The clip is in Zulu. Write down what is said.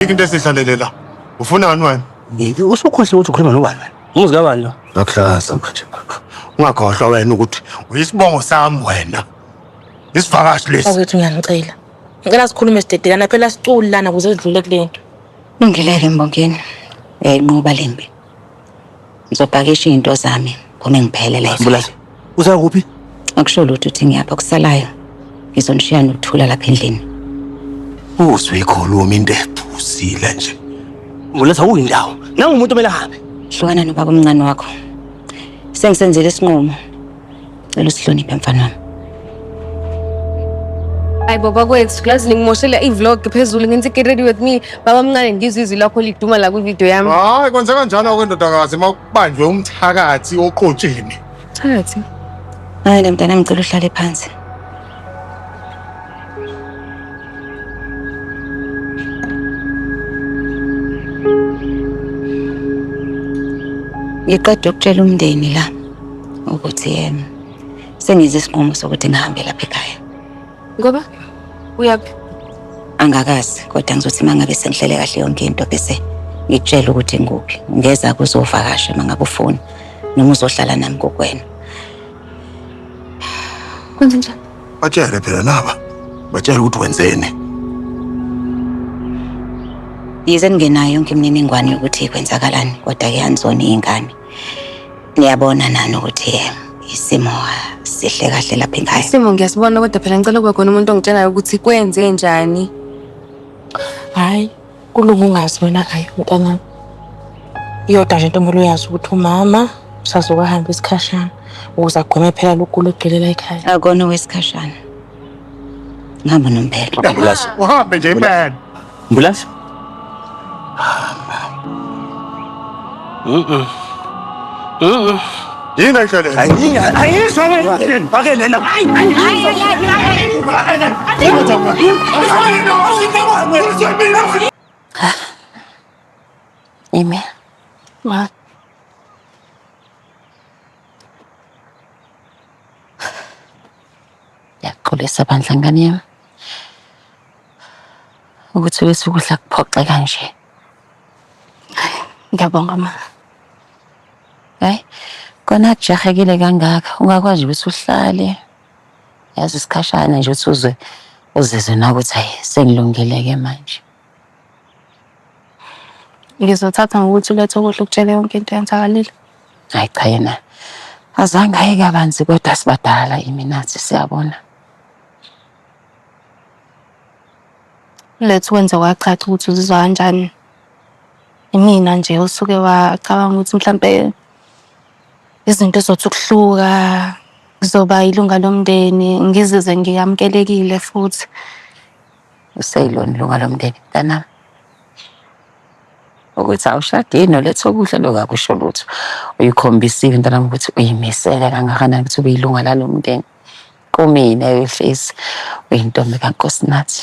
Ayikho into esihlalele la. Ufuna ngani wena? Yini usukhohle ukuthi ukhuluma nobani wena? Umuzi kabani lo? Ngakuhlaza manje. Ungakhohlwa wena ukuthi uyisibongo sami wena. Isivakashi lesi. Awethu ngiyangicela. Ngicela sikhulume sidedelana phela siculi lana kuze sidlule kulento. Lungile-ke Mbongeni. Uyayinqoba le mpi. Ngizopakisha izinto zami ngome ngiphele la Mbulazi, uza kuphi? Akusho lutho ukuthi ngiyapha kusalayo. Ngizonishiya nokuthula lapha endlini. Uzwe ikhuluma into ephuzile nje. Mbulazi awuyindawo. Nangu umuntu omele ahambe. Hlukana nobaba omncane wakho. Sengisenzile isinqumo. Cela usihloniphe mfana wami. Hayi baba kwethu lazi ningimoshela i-vlog phezulu ngenza i-get ready with me baba mncane ngizwe izwi lakho liduma la kwi-video yami Hayi kwenze kanjalo ke ndodakazi uma kubanjwe umthakathi oqotsheni. phakathi Hayi ke mntanami ngicela uhlale phansi. ngiqeda ukutshela umndeni la ukuthi um sengize isinqumo sokuthi ngihambe lapha ekhaya ngoba uyaphi angakazi kodwa ngizothi uma ngabe sengihlele kahle yonke into bese ngikutshela ukuthi ngikuphi ngeza kuzovakasha uma ngabe ufuna noma uzohlala nami kokwena Kwenze njani? Batshele phela laba. Batshele ukuthi wenzeni. Yize ningenayo yonke imininingwane yokuthi kwenzakalani kodwa ke anizona iy'ngane. Niyabona nani ukuthi eh, isimo sihle kahle lapha ekhaya. Isimo ngiyasibona kodwa phela ngicela kube khona umuntu ongitshelayo ukuthi kwenze njani. Hhayi, Kulunga ungazi wena ayi mntanami. Iyodwa nje ntombolo uyazi ukuthi umama usazokuhamba isikhashana ukuze agweme phela lokugula okugcwele la ekhaya. Akona owesikhashana. Ngihamba nompelo. Ambulance. Uhambe nje impela. Ambulance. Yini ayihlalele? Ime. Ma. Yaxolisa bandla ngane yami. Ukuthi wesukudla kuphoxe kanje. Ngiyabonga ma. Hayi, kona kujahekile kangaka ungakwazi ukuthi uhlale yazi isikhashana nje ukuthi uzwe uzizwe nawe ukuthi hayi sengilungile-ke manje. Ngizothatha ngokuthi ulethe ukudla ukutshele yonke into eyenzakalile. Hayi cha yena azange aye kabanzi kodwa sibadala imi nathi siyabona. Lethu wenze kwacaca ukuthi uzizwa kanjani. Imina nje usuke wacabanga ukuthi mhlampe izinto zothi ukuhluka ngizoba ilunga lomndeni ngizizwe ngiyamukelekile futhi. Useyilona ilunga lomndeni mntanami. Ukuthi awushadile nolethu okuhle lokho akusho lutho. Uyikhombisile mntanami ukuthi uyimisele kangakanani ukuthi ube ilunga lalo mndeni. kumina yohlezi uyintombi kaNkosinathi.